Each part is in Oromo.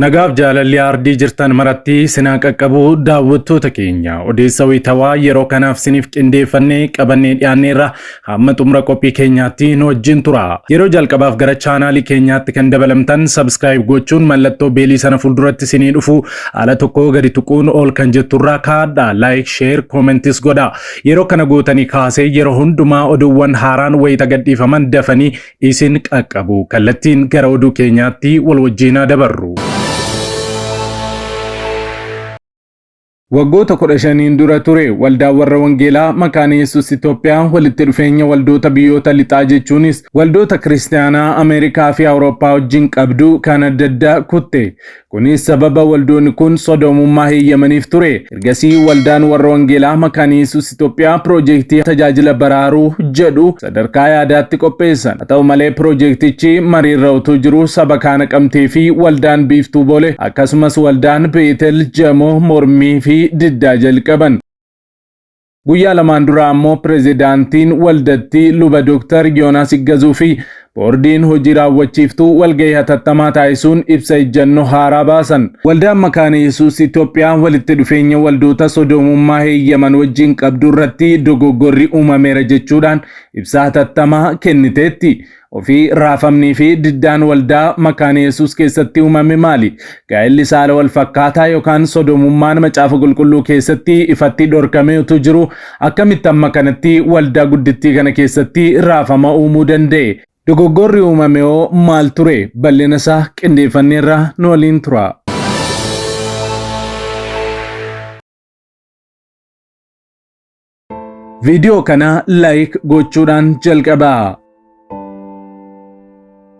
Nagaaf jaalalli aardii jirtan maratti sinaa qaqqabu daawwattoota keenya odeessa wayitawaa yeroo kanaaf siniif qindeeffannee qabannee dhiyaanneerra Hamma xumura qophii keenyaatti nu wajjin tura. Yeroo jalqabaaf gara chaanaalii keenyaatti kan dabalamtan subscribe gochuun mallattoo beelii sana fuulduratti isinii dhufu ala tokko gadi tuquun ol kan jetturraa kaadha. Like, share, comments godha. Yeroo kana gootanii kaasee yeroo hundumaa oduuwwan haaraan wayita gadhiifaman dafanii isin qaqqabu. Kallattiin gara oduu keenyaatti wal wajjinaa dabarru. Waggoota 15n dura ture Waldaan Warra Wangeelaa Makaana Yesus Itoophiyaa walitti dhufeenya waldoota biyyoota lixaa jechuunis waldoota Kiristiyaanaa Ameerikaa fi Awurooppaa wajjin qabdu kan adda adda kutte. Kunis sababa waldoonni kun sodoomummaa heeyyamaniif ture. Ergasii Waldaan Warra Wangeelaa Makaana Yesus Itoophiyaa piroojeektii tajaajila baraaruu jedhu sadarkaa yaadaatti qopheessan. Haa ta'u malee piroojeektichi mariirra utuu jiruu saba kaa Naqamtee fi waldaan Biiftuu Boolee akkasumas waldaan Beetel Jamoo mormii fi diddaa jalqaban. Guyyaa lamaan duraa ammoo pirezidaantiin waldattii luba Dooktar Yoonaas Iggazuu fi boordiin hojii raawwachiiftuu walgahii hatattamaa taasisuun ibsa ejjannoo haaraa baasan. Waldaan Makaana Yesuus Itoophiyaa walitti dhufeenya waldoota sodoomummaa heeyyaman wajjin qabdu irratti dogoggorri uumameera jechuudhaan ibsa hatattamaa kenniteetti. Ofii raafamnii fi diddaan waldaa Makaana Yesuus keessatti uumame maali? Gaa'elli saala wal fakkaataa yookaan sodoomummaan Macaafa Qulqulluu keessatti ifatti dhorkamee utuu jiruu akkamitti amma kanatti waldaa guddittii kana keessatti raafama uumuu danda'e? Dogoggorri uumamehoo maal ture? Bal'ina isaa qindeeffanneerra nu waliin turaa. Viidiyoo kana like gochuudhaan jalqabaa.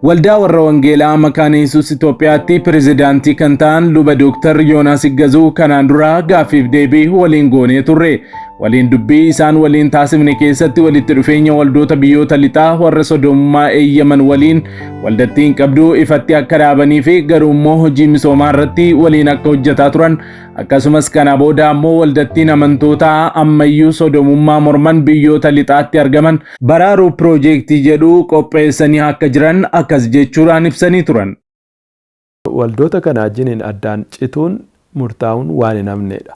Waldaa warra Wangeelaa Makaana Yesuus Itoophiyaatti pirezidaantii kan ta'an luba Dooktar Yoonaas Iggazuu kanaan dura gaaffiif deebii waliin goonee turre. Waliin dubbii isaan waliin taasifne keessatti walitti dhufeenya waldoota biyyoota lixaa warra sodoomummaa eeyyaman waliin waldattiin qabdu ifatti akka dhaabanii fi garuu immoo hojii misoomaa irratti waliin akka hojjetaa turan akkasumas kana booda ammoo waldattiin amantootaa ammayyuu sodoomummaa morman biyyoota lixaatti argaman baraaruu piroojeektii jedhu qopheessanii akka jiran akkas jechuudhaan ibsanii turan. Waldoota kanaa jiniin addaan cituun murtaa'uun waan hin hafneedha.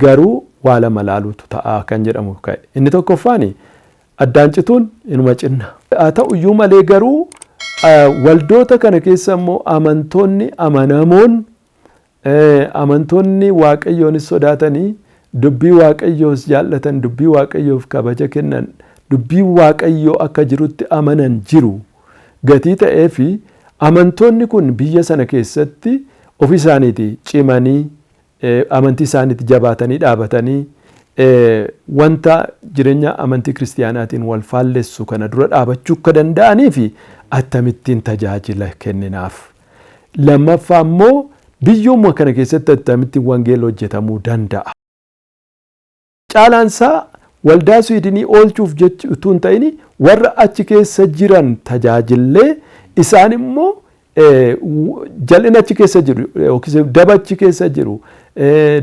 Garuu waa lama laaluutu ta'a kan jedhamu ka'e. Inni tokkoffaani addaan cituun inuma cinna. Haa ta'u iyyuu malee garuu waldoota kana keessa immoo amantoonni amanamoon amantoonni waaqayyoonis sodaatanii dubbii waaqayyoos jaallatan dubbii waaqayyoof kabaja kennan dubbii waaqayyoo akka jirutti amanan jiru. gatii ta'eefi amantoonni kun biyya sana keessatti ofii isaaniitii cimanii amantii isaaniitti jabaatanii dhaabatanii wanta jireenya amantii kiristiyaanaatiin wal faallessu kana dura dhaabachuu akka danda'aniifi attamittiin tajaajila kenninaaf. Lammaffaa immoo biyyuma kana keessatti attamitti wangeela hojjetamuu danda'a. Caalaan isaa waldaa Swiidinii oolchuuf jechi utuu hin ta'in warra achi keessa jiran tajaajillee isaan immoo jal'ina achi keessa jiru yookiis daba achi keessa jiru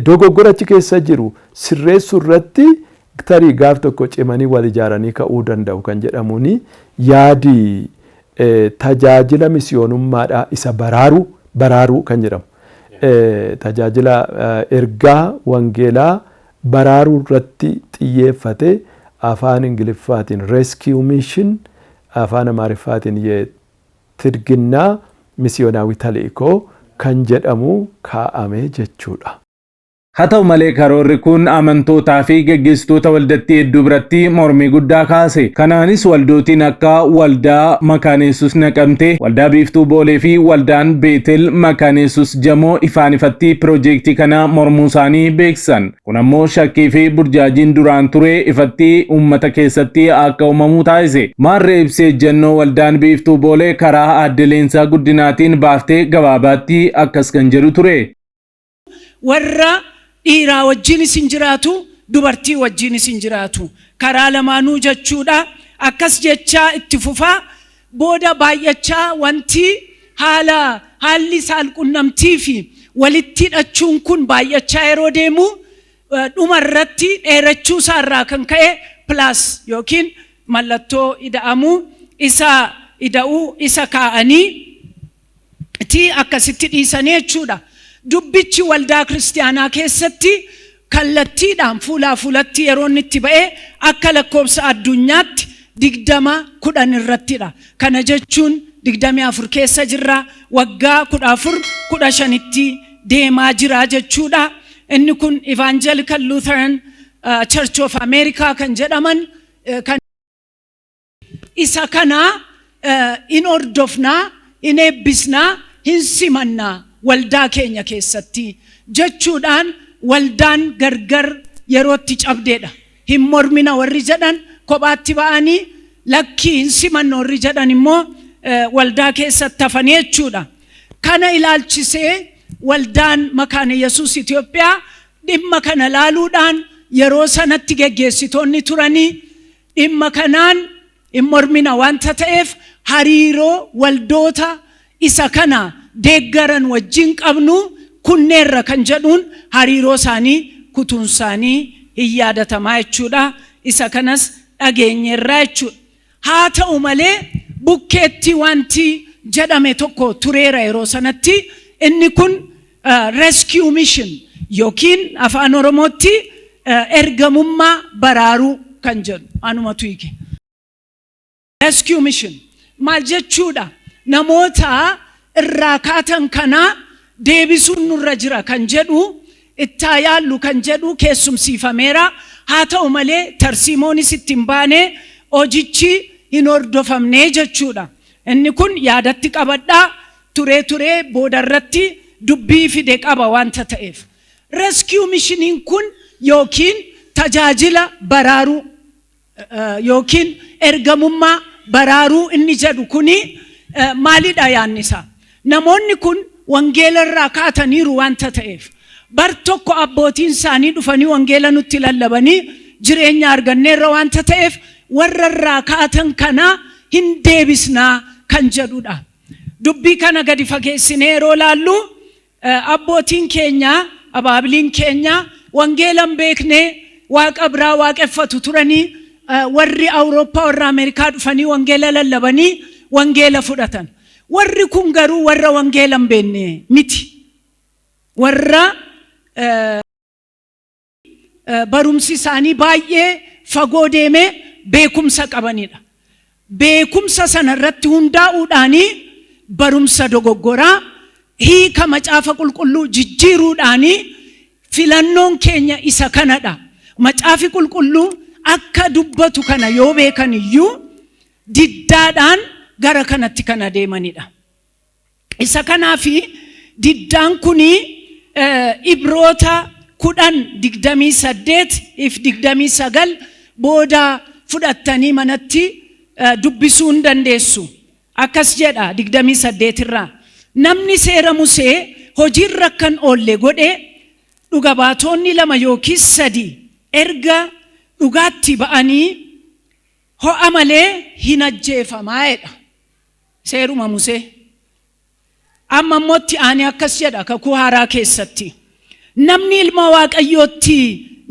dogoggora achi keessa jiru sirreessuu irratti tarii gaaf tokko cimanii wal ijaaranii ka'uu danda'u kan jedhamuun yaadi tajaajila misiyoonummaadhaa isa baraaruu baraaruu kan jedhamu tajaajila ergaa wangeelaa baraaruu irratti xiyyeeffate Afaan Ingiliffaatiin Rescue Mission, Afaan Amaariffaatiin Ye Tidhginna Misiyoonaawi Tali'iko kan jedhamu kaa'ame jechuu dha. Haa ta'u malee karoorri kun amantootaa fi geggeessitoota waldattii hedduu biratti mormii guddaa kaase. Kanaanis waldootiin akka Waldaa Makaana Yesuus Naqamtee, Waldaa Biiftuu Boolee fi Waldaan Beetel Makaana Yesuus, Jamoo ifaan ifatti pirojeektii kana mormuusaanii beeksisan. Kun ammoo shakkii fi burjaajiin duraan ture ifatti uummata keessatti akka uumamu taasise. Maarree ibsi ejjennoo Waldaan Biiftuu Boolee karaa Aadde Leensaa Guddinaatiin baafte gabaabaatti akkas kan jedhu ture. Warra dhiiraa wajjiinis hin jiraatu, dubartii wajjiinis hin jiraatu. Karaa lamaanuu jechuudha. Akkas jechaa itti fufaa booda baay'achaa wanti haala haalli saalqunnamtii fi walitti hidhachuun kun baay'achaa yeroo deemu dhuma irratti dheerachuu isaa irraa kan ka'e plus yookiin mallattoo ida'amuu isa ida'uu isa kaa'anii ti akkasitti dhiisanii jechuudha. Dubbichi waldaa kiristiyaanaa keessatti kallattiidhaan fuulaa fuulatti yeroo inni itti ba'e akka lakkoofsa addunyaatti digdama kudhan irrattidha. Kana jechuun digdamii afur keessa jirra waggaa kudha afur kudha shanitti deemaa jira jechuudha. Inni kun Evangelical Lutheran uh, Church of America kan jedhaman uh, kan Isa kana in hordofna, in eebbisna, hin simanna waldaa keenya keessatti jechuudhaan waldaan gargar yeroo itti cabdeedha. Hin mormina warri jedhan kophaatti ba'anii lakkii hin simannu warri jedhan immoo waldaa keessatti hafanii jechuudha. Kana ilaalchisee waldaan Makaana Yesuus Itoophiyaa dhimma kana ilaaluudhaan yeroo sanatti geggeessitoonni turanii Dhimma kanaan hin mormina wanta ta'eef hariiroo waldoota isa kana deeggaran wajjin qabnu kunneerra kan jedhuun hariiroo isaanii kutuun isaanii hin yaadatamaa jechuudha. Isa kanas dhageenyeerra jechuudha. Haa ta'u malee bukkeetti wanti jedhame tokko tureera yeroo sanatti inni kun Rescue Mission yookiin afaan Oromootti ergamummaa baraaruu kan jedhu anumatu hiike. Rescue Mission maal jechuudha? Namoota irraa kaatan kanaa deebisuun nurra jira kan jedhu ittaa yaallu kan jedhu keessumsiifameera. Haa ta'u malee tarsiimoonis itti hin baane hojichi hin hordofamne jechuudha. Inni kun yaadatti qabadhaa Turee turee booda irratti dubbii fide qaba wanta ta'eef. Rescue mishiniin kun ykn tajaajila baraaruu ykn ergamummaa baraaruu inni jedhu kuni maalidha yaadni isaa? Namoonni kun wangeela irraa kaataniiru wanta ta'eef. Bar tokko abbootiin isaanii dhufanii wangeela nutti lallabanii jireenya arganneerra wanta ta'eef warra irraa kaatan kana hin deebisnaa kan jedhudha. Dubbii kana gadi fageessinee yeroo ilaallu abbootiin keenya, abaabiliin keenya wangeela hin beekne, waaqa biraa waaqeffatu turanii, warri Awurooppaa, warri Ameerikaa dhufanii wangeela lallabanii wangeela fudhatan. Warri kun garuu warra wangeela hin beekne miti. Warra barumsi isaanii baay'ee fagoo deemee beekumsa qabanidha. Beekumsa sana irratti hundaa'uudhaanii barumsa dogoggoraa hiika macaafa qulqulluu jijjiiruudhaanii filannoon keenya isa kanadha. Macaafi qulqulluu akka dubbatu kana yoo beekan iyyuu diddaadhaan gara kanatti kan adeemanidha. Isa kanaaf diddaan kun Ibroota 10, 28 fi 29 booda fudhattanii manatti dubbisuu ni dandeessu. Akkas jedha 28 irraa, Namni seera Musee hojii irra akka hin oolle godhe, dhuga baatoonni lama yookiis sadi erga dhugaatti ba'anii ho'a malee hin ajjeefama jedha. Seeruma Musee. Amma immoo itti aanee akkas jedha kakuu haaraa keessatti. Namni ilma Waaqayyootti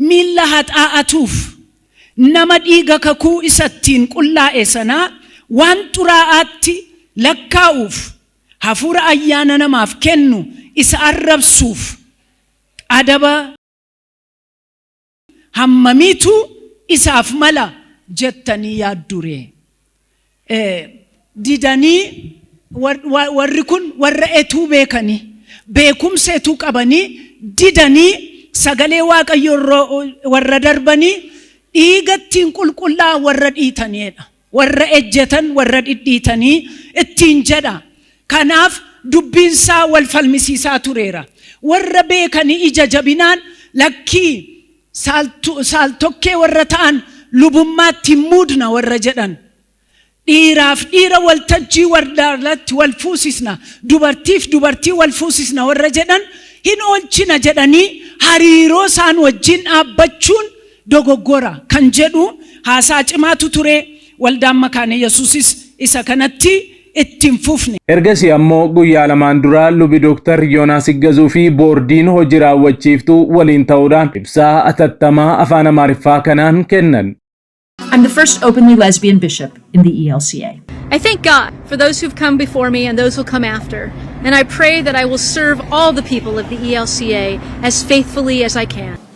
miilla haxaa'atuuf nama dhiiga kakuu isa ittiin qullaa'e sanaa waan xuraa'aatti lakkaa'uuf hafuura ayyaana namaaf kennu isa arrabsuuf adaba hammamiitu isaaf mala jettanii yaadduree? Eh, didanii war- wa- warri kun warra etuu beekanii beekumsa etuu qabanii didanii sagalee waaqayyo irra- warra darbanii dhiigattiin qulqullaa warra dhiitaniidha. warra ejjetan warra dhidhiitanii ittiin jedha. Kanaaf dubbiinsaa wal falmisiisaa tureera. Warra beekanii ija jabinaan lakkii saaltokkee warra ta'an lubummaatti hin muudna warra jedhan. Dhiiraaf dhiira waltajjii wardaarratti wal fuusisna, dubartiif dubartii wal fuusisna warra jedhan hin oolchina jedhanii hariiroo isaan wajjin dhaabbachuun dogoggora kan jedhu haasaa cimaatu ture. Waldaan Makaane Yesuusis isa kanatti itti hin fufne. Ergasii ammoo guyyaa lamaan dura lubi Dooktar Yoonaas Iggazuu fi boordiin hojii raawwachiiftuu waliin ta'uudhaan ibsaa atattamaa afaan Amaariffaa kanaan kennan. I'm the first openly lesbian bishop in the ELCA. I thank God for those who've come before me and those who'll come after, and I pray that I will serve all the people of the ELCA as faithfully as I can.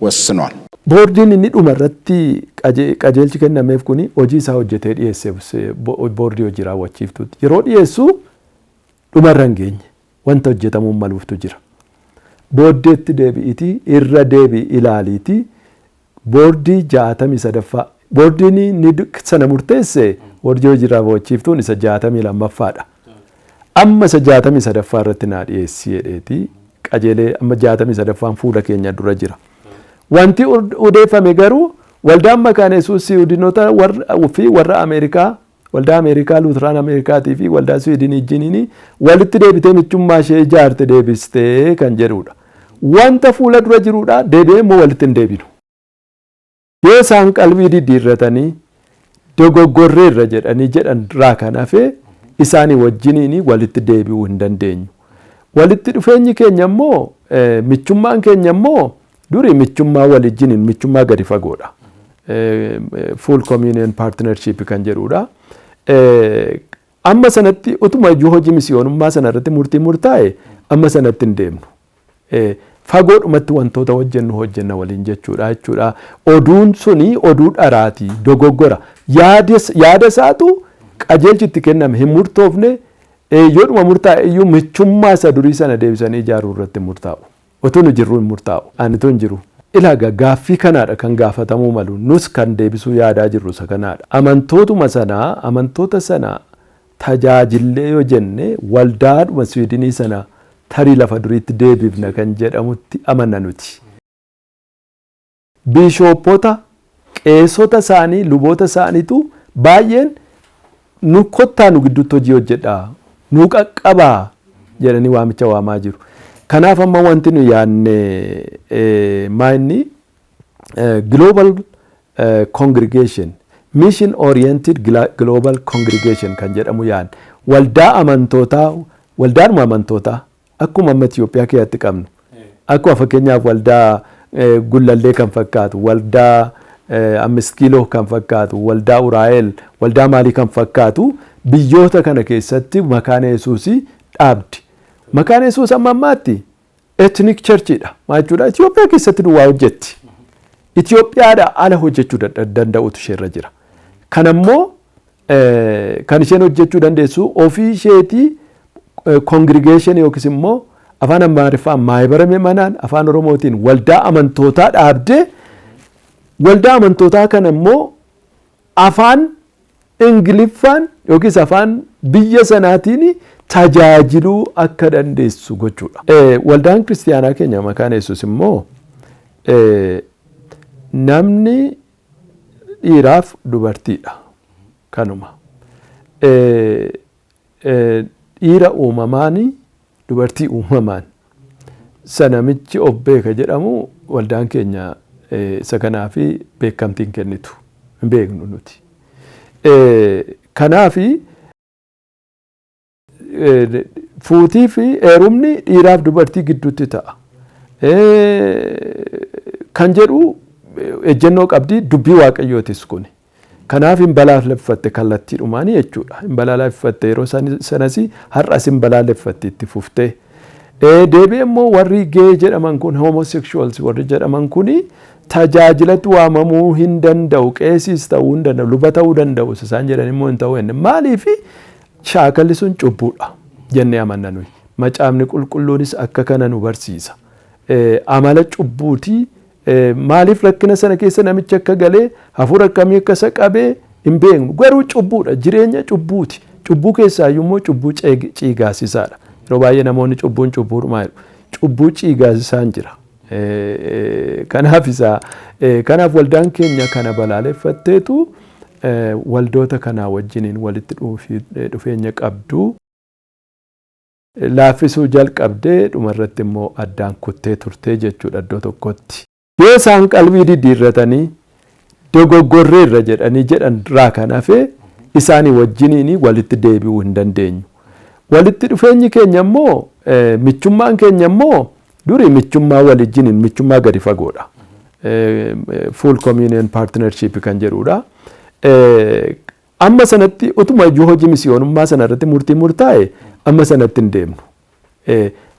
wossinol. Boordiin inni dhuma irratti qajeelchi kennameef kun hojii isaa hojjetee dhiyeesse boordii hojii raawwachiiftuutti yeroo dhiyeessu dhuma irra hin geenye wanta hojjetamuu maluuftu jira. Booddeetti deebi'iitii irra deebi'i ilaaliitii boordii 63ffaa Boordiin inni sana murteesse Boordii Hojii Raawwachiiftuun isa 62ffaa dha. Amma isa 63ffaa irratti naa dhiyeessi jedheeti qajeelee amma 63ffaan fuula keenya dura jira. Wanti odeeffame garuu waldaan makaana Yesuus Siwiidinota fi warra Ameerikaa waldaa Ameerikaa Luutiraan Ameerikaatii fi waldaa Siwiidinii wajjiniin walitti deebitee michummaa ishee ijaarte deebistee kan jedhudha. Wanta fuula dura jirudha deebi'ee immoo walitti hin deebinu. Yoo isaan qalbii diddiirratanii dogoggorreerra jedhanii jedhan irraa kan hafe isaanii wajjiniin walitti deebi'uu hin dandeenyu. Walitti dhufeenyi keenya immoo michummaan keenya immoo durii michummaa walijjiniin michummaa gadi fagoodha. Full communion partnership kan jedhudha. Amma sanatti utuma iyyuu hojii misiyoonummaa sana irratti murtii murtaa'e amma sanatti hin deemnu. fagoodhumatti wantoota hojjennu hojjenna waliin jechuudha jechuudha. Oduun suni oduu dharaati, dogoggora. Yaada isaatu qajeelchi itti kenname hin murtoofne yoodhuma murtaa'e iyyuu michummaa isa durii sana deebisanii ijaaruu irratti murtaa'u. Utuu nu jirru hin murtaa'u. Ani tun jiru. Ilaaga gaaffii kanaadha kan gaafatamuu malu. Nus kan deebisuu yaadaa jirru isa kanaadha. Amantootuma sana amantoota sana tajaajillee yoo jenne waldaadhuma Swiidinii sana tarii lafa duriitti deebifna kan jedhamutti amanna nuti. Biishooppota, qeesota isaanii, luboota isaaniitu baay'een nu kottaa nu gidduutti hojii hojjedhaa, nu qaqqabaa jedhanii waamicha waamaa jiru. Kanaaf amma wanti nu yaadne maa inni Global Congregation, Mission Oriented Global Congregation kan jedhamu yaan waldaa amantootaa waldaadhuma amantootaa akkuma amma Itoophiyaa keessatti qabnu akkuma fakkeenyaaf waldaa gullallee kan fakkaatu waldaa amist kiiloo kan fakkaatu waldaa uraa'el waldaa maalii kan fakkaatu biyyoota kana keessatti makaana yesuusii dhaabdi. Makaana yesuus amma ammaatti Ethnic Church dha. Maal jechuudha? Itoophiyaa keessatti duwwaa hojjetti. Itoophiyaadha ala hojjechuu dad- danda'utu isheerra jira. Kan ammoo eh, kan isheen hojjechuu dandeessu ofii isheetii eh, congregation yookiis immoo afaan Amaariffaan maayibara mi'manaan afaan Oromootiin waldaa amantootaa dhaabdee waldaa amantootaa kana immoo afaan Ingiliffaan yookiis afaan biyya sanaatiin tajaajiluu akka dandeessu gochuudha. Waldaan kiristiyaanaa keenya Makaana Yesuus immoo namni dhiiraaf dubartiidha. Kanuma. Dhiira uumamaan, dubartii uumamaan. Isa namichi of beeka jedhamu waldaan keenya isa kanaaf beekamtii hin kennitu. Hin beeknu nuti. Kanaaf fuutii fi heerumni dhiiraaf dubartii gidduutti ta'a. Kan jedhu ejjennoo qabdi dubbii waaqayyootis kuni. Kanaaf hin balaaleffatte kallattiidhumaan jechuudha. Hin balaaleffatte yeroo sanas har'as hin balaaleffatti itti fuftee. Deebi'ee immoo warri gee jedhaman kun homosexuals warri jedhaman kun tajaajilatti waamamuu hin danda'u qeesiis ta'uu hin danda'u luba ta'uu danda'u isaan jedhan immoo hin ta'u jenne maaliif shaakalli sun cubbuudha jennee amanna nuyi macaafni qulqulluunis akka kana nu barsiisa amala cubbuutii Maaliif rakkina sana keessa namichi akka galee hafuura akkamii akka isa qabee hin beeknu. Garuu cubbuudha. Jireenya cubbuuti. Cubbuu keessaayyuu immoo cubbuu ciigaasisaadha. Yeroo baay'ee namoonni cubbuun cubbuudhumaa jedhu. Cubbuu ciigaasisaan jira. Kanaaf isaa kanaaf waldaan keenya kana balaaleffatteetu waldoota kanaa wajjiniin walitti dhufeenya qabdu. laaffisuu jalqabde, dhuma irratti immoo addaan kuttee turte jechuu dha iddoo tokkotti. Yoo isaan qalbii diddiirratanii, Dogoggorreerra jedhanii jedhan irraa kan hafe isaanii wajjiniin walitti deebi'uu hin dandeenyu. Walitti dhufeenyi keenya immoo, michummaan keenya immoo durii michummaa walijjiniin, michummaa gadi fagoo dha. Full Communion Partnership kan jedhuu dha. Amma sanatti utuma iyyuu hojii misiyoonummaa sana irratti murtiin murtaa'e amma sanatti hin deemnu.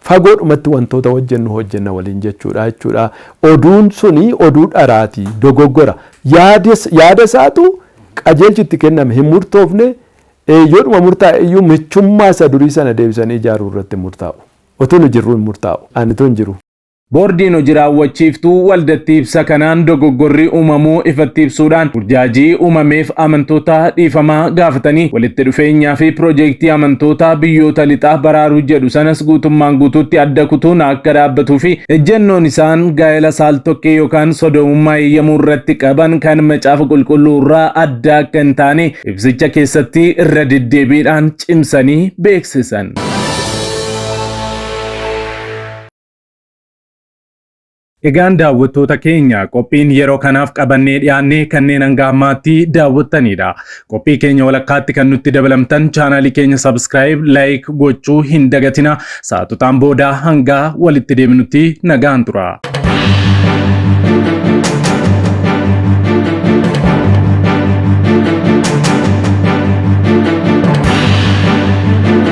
Fagoodhumatti wantoota hojjennu hojjenna waliin jechuudha jechuudha. Oduun suni oduu dharaati, dogoggora. Yaada isaatu qajeelchi itti kenname hin murtoofne yoodhuma murtaa'e iyyuu michummaa isa durii sana deebisanii ijaaruu irratti murtaa'u. Otuu nu jirru hin murtaa'u. Ani tun jiru. Boordiin Hoji Raawwachiiftuu waldattii ibsa kanaan dogoggorri uumamuu ifatti ibsuudhaan burjaajii uumameef amantoota dhiifama gaafatanii walitti dhufeenyaa fi pirojeektii amantoota biyyoota lixaa baraaruu jedhu sanas guutummaan guutuutti adda kutuun akka dhaabbatuu fi ejjennoon isaan gaa'ela saaltokkee yookaan sodoomummaa eeyyamuu irratti qaban kan macaafa qulqulluu irraa adda akka hin taane ibsicha keessatti irra deddeebiidhaan cimsanii beeksisan. Egaan daawwattoota keenya qophiin yeroo kanaaf qabannee dhiyaanne kanneen hanga ammaatti daawwattaniidha. Qophii keenya walakkaatti kan nutti dabalamtan chaanaalii keenya subscribe, like gochuu hin dagatina. Saatutaan booda hanga walitti deebinutti nagaan tura.